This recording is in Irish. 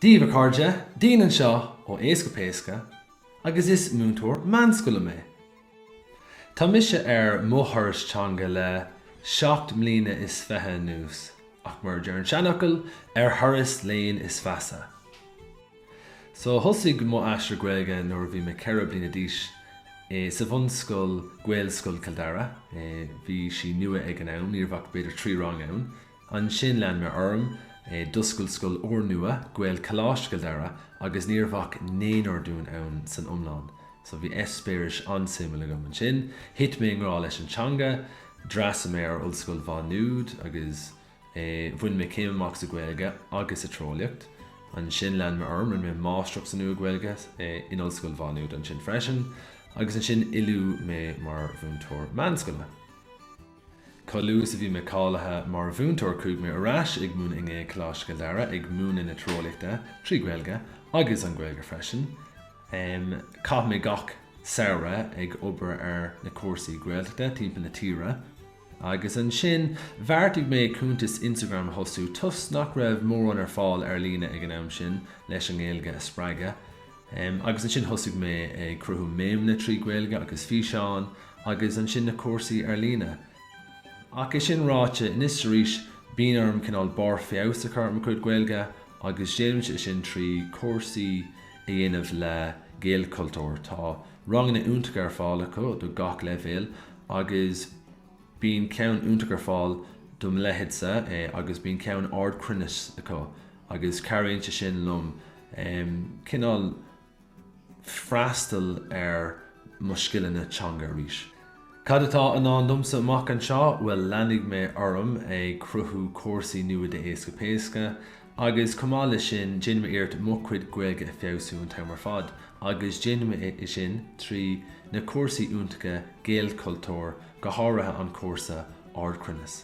Daoibh, a chairde, Dean anseo ó Éasca Péasca agus is múinteoir meánscoile mé. Tá mise ar mo thuras teanga le seacht mbliana is fiche anuas ach mar a deir an seanfhocal, ar thuras léinn is feasa. So, thosaigh mo aistear Gaeilge nuair a bhí mé ceithre bliana d'aois, i. sa bhunscoil Gaelscoil Chill Dara, eh bhí sí nua ag an am, ní raibh ach b'fhéidir trí rang ann, Ansin lean mé orm, d'oscail scoil úrnua, Gaelcholáiste Chill Dara, agus ní raibh ach naonúr dínn ann san iomlán. So bhí eispéiris an-suimiúil agam ansin. Thit mé i ngrá leis an teanga, d'fhreastail mé ar Ollscoil Mhá Nuad agus bhain mé céim amach sa Ghaeilge agus sa Tíreolaíocht. Ansin lean mé orm, rinne mé Máistreacht sa Nua-Ghaeilge in Ollscoil Mhá Nuad ansin freisin, agus ansin oiliúdh mé mar mhúinteoir meánscoile. Chomh luath is a bhí mé cáilithe mar mhúinteoir chuaigh mé ar ais ag múineadh i nGaelcholáiste Chill Dara, ag múineadh na Tíreolaíochta, trí Ghaeilge, agus an Ghaeilge freisin. Chaith mé gach samhradh ag obair ar na cúrsaí Gaeltachta timpeall na tíre. Agus ansin bheartaigh mé cuntas Instagram a thosú, toisc nach raibh mórán ar fáil ar líne ag an am sin leis an nGaeilge a spreagadh. Em, agus ansin thosaigh mé ag cruthú méimeanna trí Ghaeilge agus físeáin agus ansin na cúrsaí ar líne. Ach é sin ráite, anois 's arís bíonn orm cineál barr feabhais a chur ar mo chuid Gaeilge agus déanaimse é sin trí chúrsaí a dhéanamh le Gaelchultúr, tá ranganna iontacha ar fáil acu do gach leibhéal agus bíonn ceann iontach ar fáil do mo leithéidse, eh, agus bíonn ceann ardchruinnis acu. Agus cabhraíonn sé sin liom cineál freastal ar mo scileanna teanga arís. Cad atá i ndán domsa amach anseo? Bhuel, leanfaidh mé orm ag cruthú cúrsaí nua d'Éasca Péasca agus chomh maith leis sin déanfaidh mé iarracht mo chuid Gaeilge a fheabhsú an t-am ar fad agus déanfaidh mé é sin trí na cúrsaí iontacha Gaelchultúr, go háirithe an cúrsa Ardchruinneas.